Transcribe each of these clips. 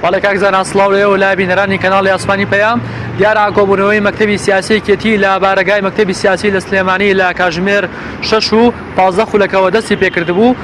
بەڵێ کاک زانا سڵاو لێ و لا بینەرانی کەناڵی ئاسمانی پەیام دیارە کۆبوونەوەی مەکتەبی سیاسیەکێتی لە بارەگای مەکتەبی سیاسی لە سلێمانی لە کاژمێر شش و پازدە خولەکەوە دەستی پێکردبوو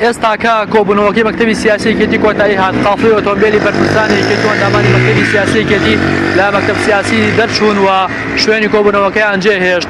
ئێستاکە کۆبوونەوەکەی مەکتەبی سیاسیەکێتی کۆتایی هاات قافی ئۆتۆمبیلی بەرپرسانی کێتوەندامانی مەکتەبی سیاسیەکێتی لە مەکتب سیاسی دەرچوون و شوێنی کۆبوونەوەکەیان جێهێشت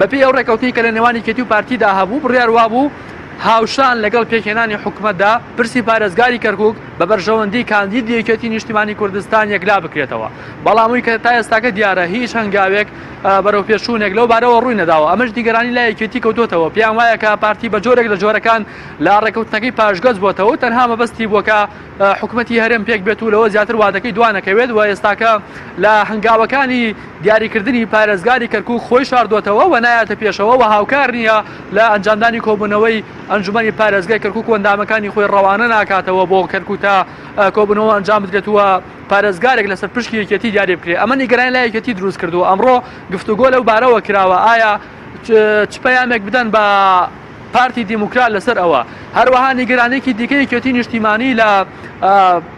بەپێی ئەو ڕێکەوتنەی کە لە نێوان یەکێتی و پارتیدا هەبوو، بڕیار وابوو هاوشان لەگەڵ پێکهێنانی حکومەتدا، پرسی پارێزگاری کەرکووک بە بەرژەوەندیی کاندیدی یەکێتیی نیشتیمانیی کوردستان یەکلا بکرێتەوە، بەڵام ئەوەی کە تا ئێستاکە دیارە هیچ هەنگاوێک، بەرەوپێشچوونێک لەو بارەوە ڕووی نەداوە، ئەمەش نیگەرانی لای یەکێتی کەوتووەتەوە، پێیان وایە کە پارتی بە جۆرێک لە جۆرەکان لە ڕێککەوتنەکەی پاشگەز بووەتەوە و تەنها مەبەستی بووە کە حکومەتی هەرێم پێکبێت و لەوە زیاتر وادەکەی دوانەکەوێت و ئێستاکە لە هەنگاوەکانی دیاریکردنی پارێزگاری کەرکک خۆی شاردوەتەوە و نایەتە پێشەوە و هاوکار نییە لە ئەنجامدانی کۆبوونەوەی ئەنجومی پارێزگای کەرکک و ئەندامەکانی خۆی ڕەوانە ناکاتەوە بۆ کەرکوتا کۆبنەوە ئەنجام بدرێت وە پارێزگارێک لەسەر پشکی یەکێتی دیاری بکرێت ئەمە نیگەرانی لە یەکێتی دروست کردو ئەمڕۆ گفتوگۆ لەو بارەوە کراوە ئایا چ پەیامێک بدەن بە پارتی دیموکرات لەسەر ئەوە هەروەها نیگەرانێکی دیکە یەکێتی نیشتیمانی لە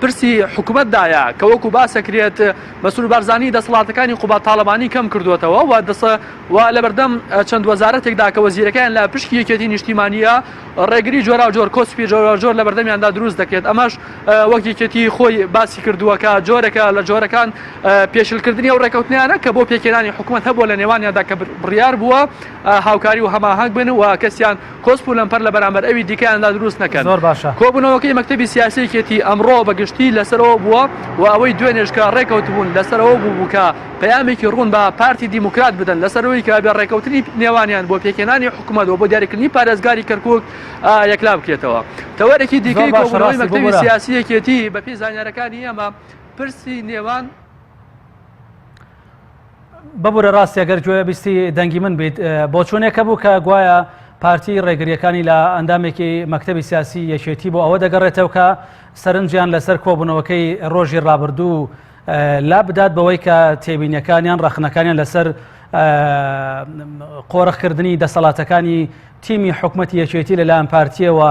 پرسی حکوومەتدایە کە وەکو باسەکرێت مەسول بارزانانی دەسەڵاتەکانی قوبا تاالبانی کەم کردوێتەوە و دەسە و لە بەردەم چەند وەزارەتێکدا کە وەزیرەکەیان لە پشکی یەکێتی نیشتیمانیە ڕێگری جۆرا جۆر کۆسپی جۆرا جۆر لە بەردەمیاندا دروست دەکرێت ئەمەش وەک یەکێتی خۆی باسی کردووەکە جۆرەکە لە جۆرەکان پێشلکردنی و ڕێکەوتنیانە کە بۆ پێکێنانی حکوومەت هەبوو لە نێوانیاندا کە بڕیار بووە هاوکاری و هەماهەنگ بن و کەسیان کۆسپ و لەمپەر لە بەرامبەر ئەوی دیکەیاندا دروست نەکەن. کۆبوونەوەکەی مەکتەبی سیاسی یەکێتی ئەمڕۆ بە گشتی لەسەرەوە بووە و ئەوەی دوێنێش کە رێککەوتبوون لەسەرەوە بووبوو کە پەیامێکی روون بە پارتی دیموکرات بدەن لەسەر ئەوەی کە بێ رێککەوتنی نێوانیان بۆ پێکهێنانی حکومەت و بۆ دیاریکردنی پارێزگاری کەرکوک یەکلا بکرێتەوە. تەوەرێکی دیکەی کۆبوونەوەی مەکتەبی سیاسی یەکێتی بەپێی زانیارەکانی ئێمە پرسی نێوان، ببورە ڕاستی گەر گوێ بیستی دەنگی من بیت بۆچوونێکە بوو کە گوایە پارتی ڕێگریەکانی لە ئەندامێکی مەکتتەبی سیاسی یەکێتی بۆ ئەوە دەگەڕێتەوە کە سەرنجیان لەسەر کۆبوونەوەکەی ڕۆژی ڕابردوو لا بدات بەوەی کە تێبینیەکانیان ڕخنەکانیان لەسەر قۆرخکردنی دەسەڵاتەکانی تیمی حکوومەت یەکێتی لەلایەن پارتیەوە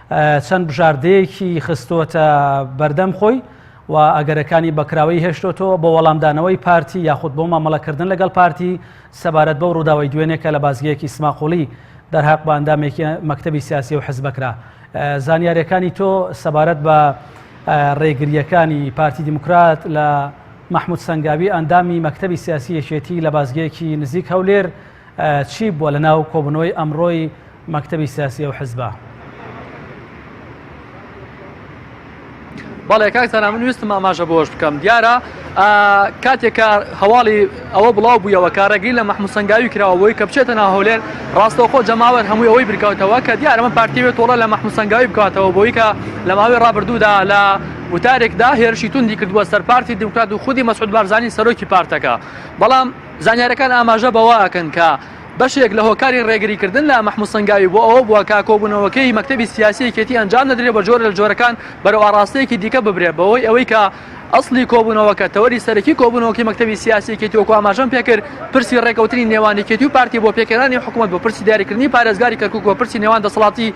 چەند بژاردەیەکی خستۆتە بەردەم خۆی و ئەگەرەکانی بەکراوەی هێشتۆتەوە بۆ وەڵامدانەوەی پارتی یاخود بۆ مامەڵەکردن لەگەڵ پارتی سەبارەت بەو ڕووداوی دوێنێکە لە بازگەیەکی سماقۆڵی دەرهاق باندامێکی مەکتتەبی سیاسی و حزبەکرا زانیارەکانی تۆ سەبارەت بە ڕێگریەکانی پارتی دیموکرات لە مححمود سنگاوی ئەندامی مەکتتەبی سیاسی یەکێتی لە بازگەیەکی نزیک هەولێر چی بووە لە ناو کۆبوونەوەی ئەمڕۆی مەکتەبی سیاسی ئەو حزبە؟ بەڵێ کاک زانا من ویستم ئاماژە بۆش بکەم دیارە کاتێکە هەواڵی ئەوە بڵاو بوویەوە کارەگری لە مەحموسەنگاوی کراوەوەی کە بچێتە ناهولێر ڕاستەوخۆ جەماوەر هەمووی ئەوەی برکاتەوە کە دیارە من پارتیوێت تۆڵە لە مەحموسەنگاوی بکاتەوە بۆی کە لە ماوەی ڕابردوودا لە وتارێکدا هێرشی توندی کردووە سەر پارتی دیموکرات و خودی مەسعود بارزانانی سەرۆکی پارتەکە بەڵام زانیارییەکان ئاماژە بەوە ئەکەن کە بەشێک لە هۆکاری ڕێگریکردن لە مەحموود سەنگاوی بۆ ئەوە بووە کە کۆبوونەوەکەی مەکتەبی سیاسی یەکێتی ئەنجام نەدرێت و بە جۆرە لە جۆرەکان بەرەو ئاڕاستەیەکی دیکە ببرێت بەهۆی ئەوەی کە ئەسڵی کۆبوونەوەکە تەوەری سەرەکی کۆبوونەوەکەی مەکتەبی سیاسی یەکێتی وەکو ئاماژەم پێکرد پرسی ڕێکەوتنی نێوان یەکێتی و پارتی بۆ پێکهێنانی حکومەت بوو پرسی دیاریکردنی پارێزگاری کەرکوک و پرسی نێوان دەسەڵاتی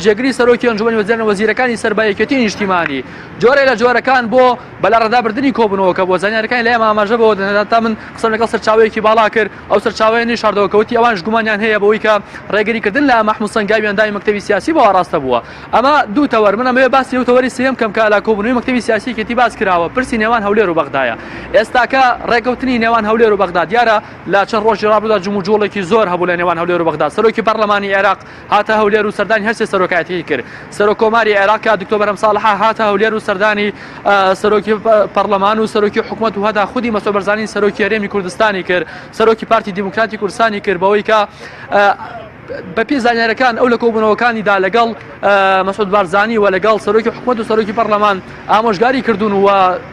جێگری سەرۆکی ئەنجومەنی وەزیران و وەزیرەکانی سەر بە یەکێتی نیشتیمانی جۆرە لە جۆرەکان بۆ بە لەڕادابردنی کۆبوونەوەکە بۆ زانیاریەکانی لای ئەم ئاماژە بەوە دەدەن تا من قسەم لەگەڵ سەرچاوەیەکی باڵا کرد ئەو سەرچاوەیە نوێی شاردەوە کەوتی ئەوانش گومانیان هەیە بەوەی کە ڕێگری کردن لە مەحمود سەنگاوی ئەندامی مەکتەبی سیاسی بۆ ئاڕاستە بووە ئەمە دوو تەوەر من ئەمەوێ باسی ئەو تەوەری سێیەم کەم کە لە کۆبوونەوەی مەکتەبی سیاسی یەکێتی باس کراوە پرسی نێوان هەولێر و بەغدایە ئێستاکە ڕێکەوتنی نێوان هەولێر و بەغدا دیارە لە چەند ڕۆژی ڕابردوودا جموجوڵێکی زۆر هەبوو لە نێوان هەولێر و بەغدا سەرۆکی پەڕلەمانی عێراق هاتە هەولێر و سەردانی هەر سێ سەرۆکایەتیی کرد. سەرۆک کۆماری عێراق کە دکتۆر بەرهەم ساڵح هاتە هەولێر و سەردانی سەرۆکی پەڕڵەمان و سەرۆکی حکومەت و هەتا خودی مەسرور بەرزانی سەرۆکی هەرێمی کوردستانی کرد، سەرۆکی پارتی دیموکراتی کوردستانی کرد بەوەی کە بەپێی زانیاریەکان ئەو لە کۆبوونەوەکانیدا لەگەڵ مەسود بارزانانی و لەگەڵ سەرۆکی حکومت و سەرۆکی پەرلەمان ئامۆژگاری کردوون و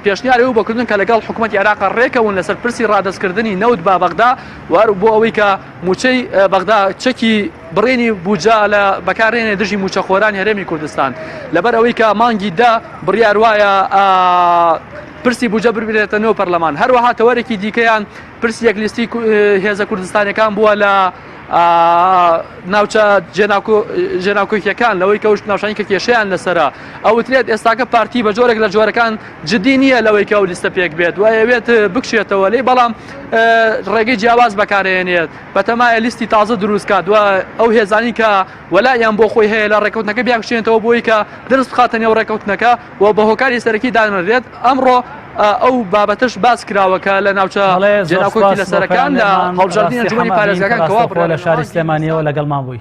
پێشنیاری و بەکردن کە لەگەڵ حکوومەت عێراق ڕێکەون لەسەر پرسی ڕادستکردنی نەوت با بەغدا وار بۆ ئەوەی کە مووچەی بەغدا چەکی بڕێنی بوجا لە بەکارێنێ دژی مووچەخۆرانی هەرێمی کوردستان لەبەر ئەوەی کە مانگی دە بڕیار وایە پرسی بوجە بربێتە نۆ پەرلەمان هەروەها تەوەرێکی دیکەیان پرسی یەک لیستی هێزە کوردستانەکان بووە لە ناوچە ژێناکۆکیەکان لەوەی کەوت ناوشانی کە کێشیان لەسرە ئەوترێت ئێستاکە پارتی بە جۆرێک لە جۆرەکان جدی نییە لەوەی کە ئەو لیستە پێک بێت و ئەوێت بکشێتەوە لی بەڵام ڕێگەی جیاواز بەکارێنێت بەتەمایە لیستی تازە دروستکات و ئەو هێزانی کە وەلایان بۆ خۆی هەیە لە ڕێکوتنەکە بیاکشێنەوە بۆی کە درست بخاتە نێو ڕێکوتنەکە و بە هۆکاری سەرەکی دانرێت ئەمڕۆ ئەو بابەتش باس کراوەکە لە ناوچە جێناکۆکی لە سەرەکان لە هەڵبژاردنی جوانی پارێزگەکان کەوا لە شاری سلێمانیەوە لەگەڵمان بووی.